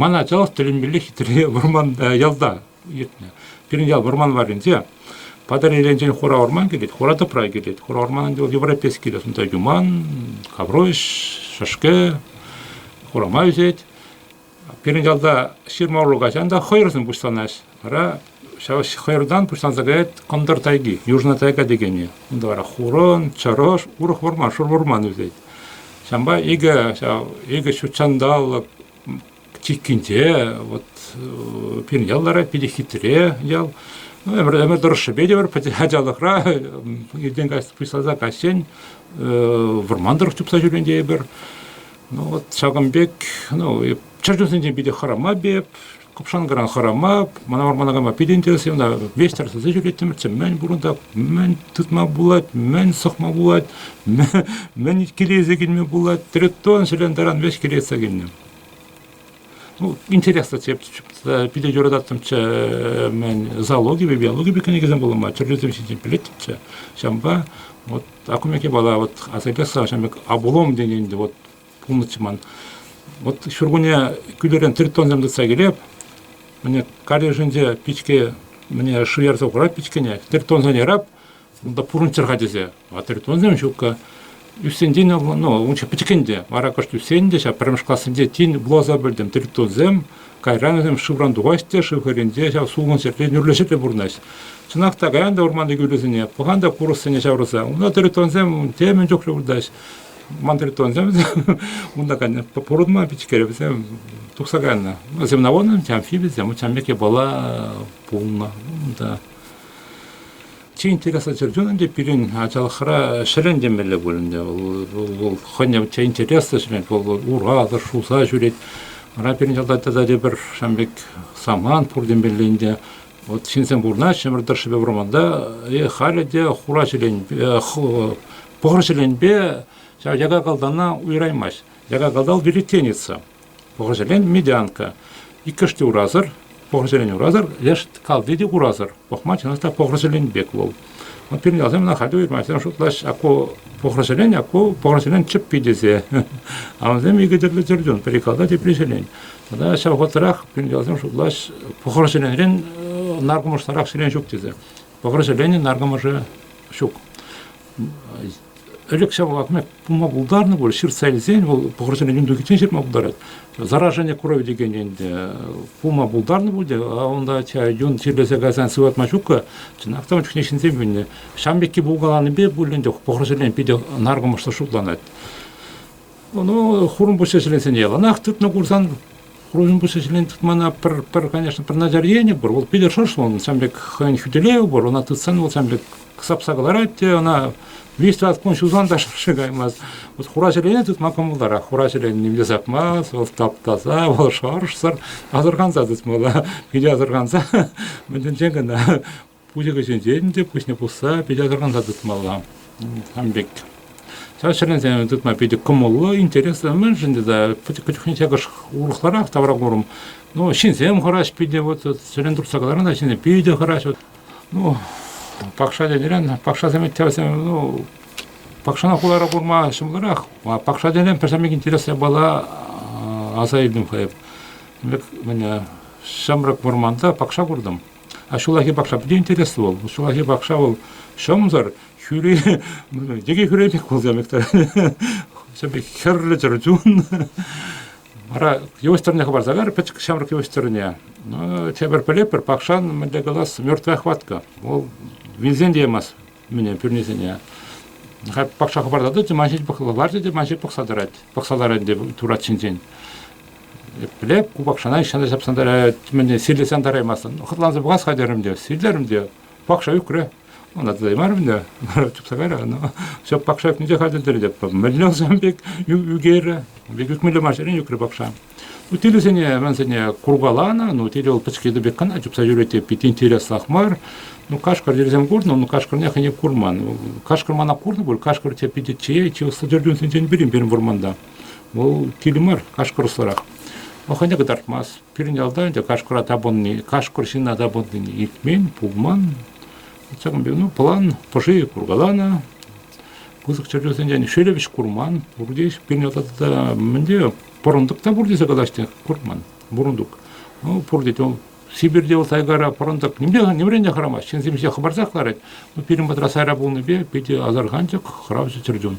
Ман ачалӑх тӗлӗнмелле хитре вӑрман ялта иртнӗ. Пирӗн ял вӑрман варринче Патӑрьелӗнчен хура вӑрман килет, хура тӑпра килет. Хура вӑрманӗнче вӑл европейский те сонда юман, хавруш, шӗшкӗ, хурама ӳсет. Пирӗн ялта ҫырма урлӑ каҫан та хӑйӑрсем пуҫланаҫ. Вара ҫав хӑйӑртан пуҫланса каять кӑнтӑр тайги, южна тайга текенӗ. Унта вара хурӑн, чӑрӑш, урӑх вӑрман, шур вӑрман ӳсет. Ҫавӑнпа икӗ ҫав икӗ ҫут ҫанталӑк чиккинче вот пирӗн ял вара питӗ хитре ял. Ну, ӗмӗр, ӗмӗр тӑрӑшшӗпе те пӗр ачалӑхра иртен каҫ пуҫласа каҫчен вӑрман тӑрӑх чупса ҫӳрен тейӗпӗр. Ну вот ҫакӑн пек, ну, чӗрчунсенчен питӗ хӑрамап эп, купшанкӑран хӑрамап, мана вармана кайма питӗ интереслӗ, ӑна ветер сӗсе ҫӳреттӗмӗрччӗ, мӗн пурӑнта, мӗн тытма пулать, мӗн сӑхма пулать, мӗн килейсе килме пулать, тритон ҫӗлен таран веҫ килейсе килнӗ. Ну, интереслӗ тӗп питӗ юрататтӑмччӗ мӗн зоологипе биологипе кӗнекесем вулама тӗрлисем ҫинчен пӗлеттӗмччӗ ҫавӑнпа вот а кумек япала вот асайпесса ҫавӑн пек обулом тенӗ вот пулнӑччӗ ман вот ҫуркунне кӳлӗрен тритонсем тытса килеп міне калешӗнче пичке міне шуярса хурать пичкене тритонсене ярап Унта пурӑнччӑр-ха тесе. Ватӑритонсем ҫукка. Ӳссен ну, унче пӗчӗкен те. Вара кӑшт ӳссен те, ҫав пӗрремӗш классенче тин вуласа пӗлтӗм. Тритонсем кайран вӗсем шывран тухаҫ те, шыв хӗрринче ҫав сулӑн ҫӗрте нӳрлӗҫе те пурӑнаҫ. Чӑнах та каян та вӑрманти кӳлӗсене, пӑхан та курӑссене ҫаврӑса. Унта тритонсем темӗн чухлӗ выртаҫ. Ман тритонсем унта пурӑнма пичкере вӗсем тухса кайнӑ. Земноводнӑм тем филисем, учамек япала пулнӑ унта. Чи интереслӗ чӗрчун ӗнтӗ пирӗн ачалӑхра ҫӗрен темелле пуль ӗнтӗ. Вӑл хӑйне те интереслӗ ҫӗрет, вӑл уратӑр, шуса ҫӳрет. Вара пирӗн ялта тата тепӗр ҫавӑн пек самант пур темелле ӗнтӗ. Вот ҫынсем пурӑнаҫҫӗ ӗмӗр тӑршшӗпе вӑрманта, е халӗ те хура ҫӗленпе, пӑхӑр ҫӗленпе ҫав якакалтана уйӑраймасть. Якакалтал веретенница. Пӑхӑҫсерен медянка. Иккӗш те урасӑр, пӑхӑҫсерен урасӑр, леш калти те урасӑр. Пӑхма чӑнах та пӑхӑҫсерен пек вӑл. Вӑл пирӗн ялсем ӑна хатӗр вырмаҫсем шутлаҫ, аку пӑхӑҫсерен, аку пӑхӑҫсерен чӗппи тесе. Авансем икӗ тӗрлӗ тӗртӳн, пӗри калта, тепри ҫӗлен. Тата ҫав вӑхӑтрах пирӗн ялсем шутлаҫ, пӑхӑҫсеренрен наркӑмӑшларах сирен ҫук тесе. Вӑрҫӑленин наркӑмӑшӗ ҫук. Ӗлӗкҫе вӑл пулма пултарнӑ пуль, ҫыртса илсен вӑл вӑрҫӑленин тухиччен ҫырма пултарать. Заражение крови текен ӗнтӗ пулма пултарнӑ пуль те, а унта юн чирлесе кайсан сыватма ҫуккӑ, чӑнах та ун чухне ҫынсем вилнӗ. Ҫам пекки пулкаланипе пуль ӗнтӗ вӑрҫӑлен питӗ наркӑмӑшлӑ шутланать. Ну, хурӑнпуҫҫа ҫӗленсене яланах тытнӑ курсан, хурӑнпуҫҫа ҫӗлен тытмана пӗр, пӗр, конечно, пӗр начар енӗ пур. Вӑл питӗ шӑрш вӑл, ҫам пек хӑйӗн хӳтӗлевӗ пур. Ӑна тытсан вӑл ҫам пек сапса кӑларать те, ӑна 200-200 кун ҫулсан та шӑрши каймасть. Вот хура ҫӗлене тытма кӑмӑлтарах. Хура ҫӗлене вилсе тапмасть, вӑл таптаса, вӑл шӑршсӑр асӑрханса тытмалла. Питӗ асӑрханса, мӗншӗн кӑна пуҫӑкӗсенчен те пуҫне пусса питӗ асӑрханса тытмалла сан пек. Чаҫренсен тытма питӗ кӑмӑллӑ, интереслӗ мӗншӗн тата пӗчӗк чухне ҫакӑш урӑхларах тавра курӑм. Ну, ҫынсем хӑраҫ питӗ, вот сирен туртса кӑларсан та ҫынсем питӗ хӑраҫ. Вот, ну, пакша тенӗрен, пакшасем ӗҫтӗвӗсем, ну, пакшана хулара курма ҫӑмӑлрах. А пакша тенӗрен пӗрсемех интереслӗ япала аса илтӗм хӑй. Вӗт, мене ҫамрӑк вӑрманта пакша куртӑм. А ҫуллахи пахча питӗ интереслӗ вӑл. Ҫуллахи пахча вӑл ҫӑмсӑр, хӳри, йӗке хӳри пек пулса пек все пек хӗрлӗ чӗрчун. Вара йывӑҫ тӑрне хӑпарса кар, пӗчӗк ҫамрӑк йывӑҫ тӑрне. Ну, тепӗр пӗлетпӗр, пахчан мӗнле калас, мертвая хватка. Вӑл вилсен те ямасть. Мене пӳрнисене пахча хӑпартатӑ те ман ҫеҫ ларчӗ те ман ҫеҫ пӑхса тӑрать. Пӑхса ларать ӗнтӗ турат ҫинчен. Епле ку пахчана ҫынна ҫапсан тӑрать, мӗне сирлесен тӑраймастӑн. Хӑтланса пӑхас-ха терӗм те, сирлерӗм те, пахча ӳкрӗ. Ӑна тытаймарӑм та, чупса кайрӗ. Ну, все пахча ӳкнӗ те хатӗр те мӗнле ӑсам пек ӳкерӗ. Пек ӳкмелле мар ҫӗрен ӳкрӗ пахча. Утилӗсене, рансене куркаланӑ, ну, тетел пӗчкетӗ пек кӑна чупса юрать те питӗ интереслах мар. Ну, кашкӑр тесем курнӑ, ну, кашкӑрне хӑйне курман. Кашкӑр мана курнӑ пуль, кашкӑр те питӗ чей, чей содержиментсенчен пирӗн пирӗн вӑрманта. Вӑл кил мар, кашкӑрсӑрах. Вӑл хӑйне кӑтартмасть. Пирӗн ялта ӗнтӗ кашкӑра тапӑнни, кашкӑр ҫынна тапӑннине илтмен, пулман. Ҫакӑн пек, ну, план пӑши куркаланӑ, пысӑк чӗрчунсенчен шелепӗҫ курман, пурте пирӗн ялта тата мӗнле Пӑрӑнтӑк та пур тесе калаҫҫӗ, курман, пӑрӑнтӑк. Ну, пур тет, Сибирьте вӑл тайгара пӑрӑнтӑк нимрен те хӑрамасть. Ҫынсем ҫе хӑпарсах ларать. Ну, пирӗн патра сайра пулнипе питӗ асӑрханчӑк хӑравҫӑ чӗрчун.